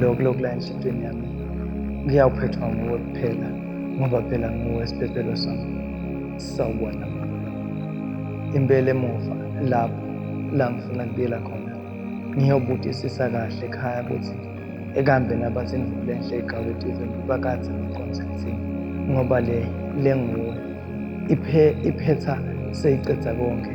lokhu lokula enhliziyweni yami kuyawuphethwa nguwe kuphela ngoba phela nguwe siphephelo sami sawubona impela emuva lapho la ngifuna kubuyela khona ngiyobudisisa kahle ekhaya ukuthi ekambe nabathi ngivule enhle igaweti izintuba kanzi ngiqonzekthini ngoba le le nguwe iphe iphetha seyiqeda konke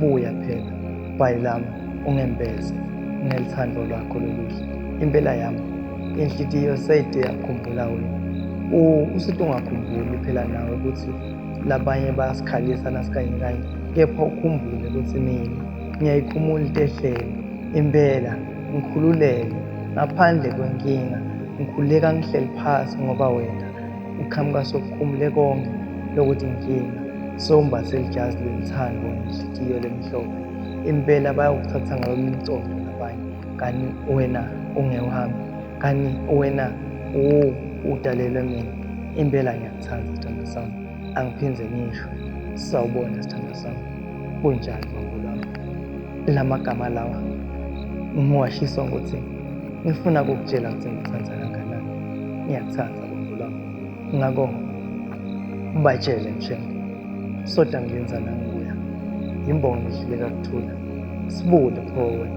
buya phela bhayi lami ungembeze ngelithando lwakho loluhle impela yami inhlitiyo seyide yakhumbula wena usithi ungakhumbuli phela nawe ukuthi labanye bayasikhalisa nasikanye kanye kepha ukhumbule ukuthi mina ngiyayikhumula into ehlele impela ngikhululeke ngaphandle kwenkinga ngikhuleka ngihleli phasi ngoba wena uqhamuka sokukhumule konke lokuthi inkinga sewumbathe lijazi lelithando nenhliziyo lemhlophe impela bayokuthatha ngayo umcondo nabanye kanti wena ungewuhambi kanti wena udalelwe mina impela ngiyakuthanda sithandwa sami angiphinde ngisho sawubona sithandwa sami kunjani bambo lwami la magama lawa ngiwashiswa ngothi ngifuna kukutshela ukuthi ngikuthanda kangakanani ngiyakuthanda Khumbula ngako ubatshele nje soda ngenza nanguya imbongi ihluleka kuthula sibude forward